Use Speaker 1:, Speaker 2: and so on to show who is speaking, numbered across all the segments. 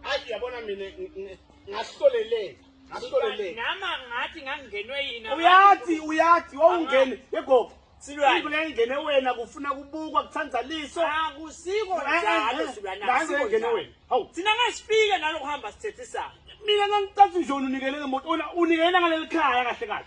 Speaker 1: Hayi yabona mina ngahloleleka. Ngahloleleka.
Speaker 2: Nama ngathi ngangenwe yini. Uyathi uyathi
Speaker 1: wawungene yegogo. Silwane. Into engene wena kufuna kubukwa kuthanda liso. Akusiko ah, eh,
Speaker 2: eh, njalo eh. silwane. Ngaze engene wena. Hawu.
Speaker 1: Thina ngasifika
Speaker 2: nalo kuhamba sithethisa. Mina ngangicatha
Speaker 1: nje unikele ngemoto. Unikele ngaleli khaya kahle kahle.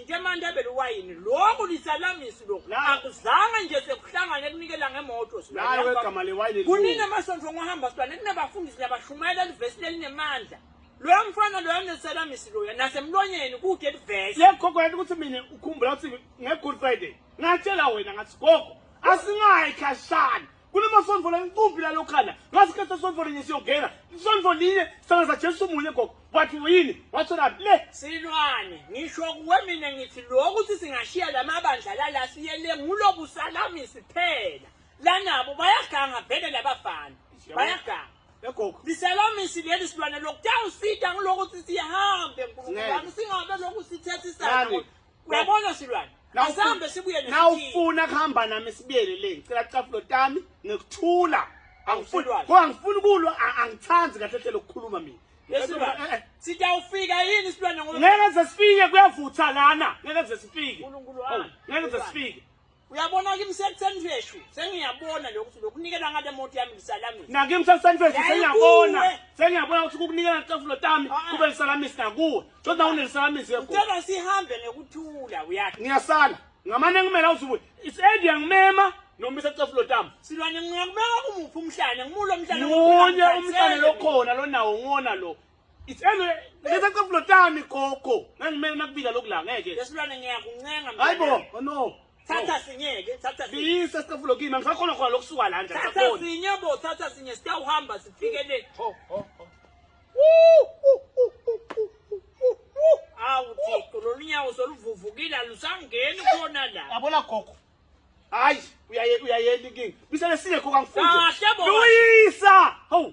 Speaker 2: Into emandebele uwayini lokhu lisalamisi lokhu La- akuzange nje sekuhlangane ekunikela ngemoto Nawe silwane. wegama lewayini kuningi
Speaker 1: elikhulu. amasonto
Speaker 2: ngohamba silwane kunabafundisi nabashumayela livesi lelinemandla loya mfana loya nesalamisi loya nasemlonyeni kude livesi Yekho kwena ukuthi mina
Speaker 1: ukhumbula ukuthi nge-Good Friday ngatshela wena ngathi gogo asingayi khashana kunemasonto la inkumbi lalokhana ngasikhetha sonto linye siyongena isonto linye sangaza jesu munye gogo wathi yini watholaphi le silwane
Speaker 2: ngisho kuwe mina ngithi lo ukuthi singashiya la mabandla lala siyele ngulobu salami siphela lanabo bayaganga vele labafana bayaganga egogo
Speaker 1: liselamisi leli
Speaker 2: silwane lokutawusita kulokuthi sihambe nkulunkulu wami singabe loku sithethisana Uyabona silwane. Asambe sibuye nje. Nawufuna
Speaker 1: kuhamba nami sibiyele le. Ngicela cafulo tami ngikuthula. Angifuni. Kodwa ngifuna ukulwa angithandi kahle hle lokukhuluma mina. Yesilwane. Eh, eh.
Speaker 2: Sitawufika yini isilwane ngoba ngeke sesifike
Speaker 1: kuyavutha lana. Ngeke sesifike. Ngeke
Speaker 2: sesifike.
Speaker 1: Uyabona kimi
Speaker 2: sekutheni veshu sengiyabona lokho ukuthi lokunikela ngale moto yami ngisalamisa. Nakimi sekutheni veshu Yayi
Speaker 1: sengiyabona. kuwe. Sengiyabona ukuthi ukukunikela ngecafulo tami Ah, ah. kube lisalamisi nakuwe. Kodwa unelisalamisi yebo. Ucela sihambe
Speaker 2: ngokuthula uyathi. Ngiyasala. Ngamane
Speaker 1: ngimela uzubuye. Isendi yangimema noma isecafulo tami. Silwane ngiyakubeka
Speaker 2: kumuphi umhlane ngimulo umhlane Munye umhlane
Speaker 1: lokhona lonawo ngona lo. It's anyway, letha kafulo tami gogo. Ngangimele nakubika lokhu la ngeke. Lesilwane ngiyakuncenga
Speaker 2: mina. Hayibo, oh no.
Speaker 1: Thatha sinyeke,
Speaker 2: thatha sinye. Biyisa sikafulo kimi,
Speaker 1: angisakhona khona lokusuka la nje. Thatha sinye bo,
Speaker 2: thatha sinye sitawuhamba sifike le. Ho ho ho. Awu Thixo, lolunyawo soluvuvukile alusangeni khona la. Yabona gogo.
Speaker 1: Hayi, uyaye uyayeni
Speaker 2: kingi.
Speaker 1: Bisele sinye gogo angifuni. Kahle bo. Luyisa. Ho.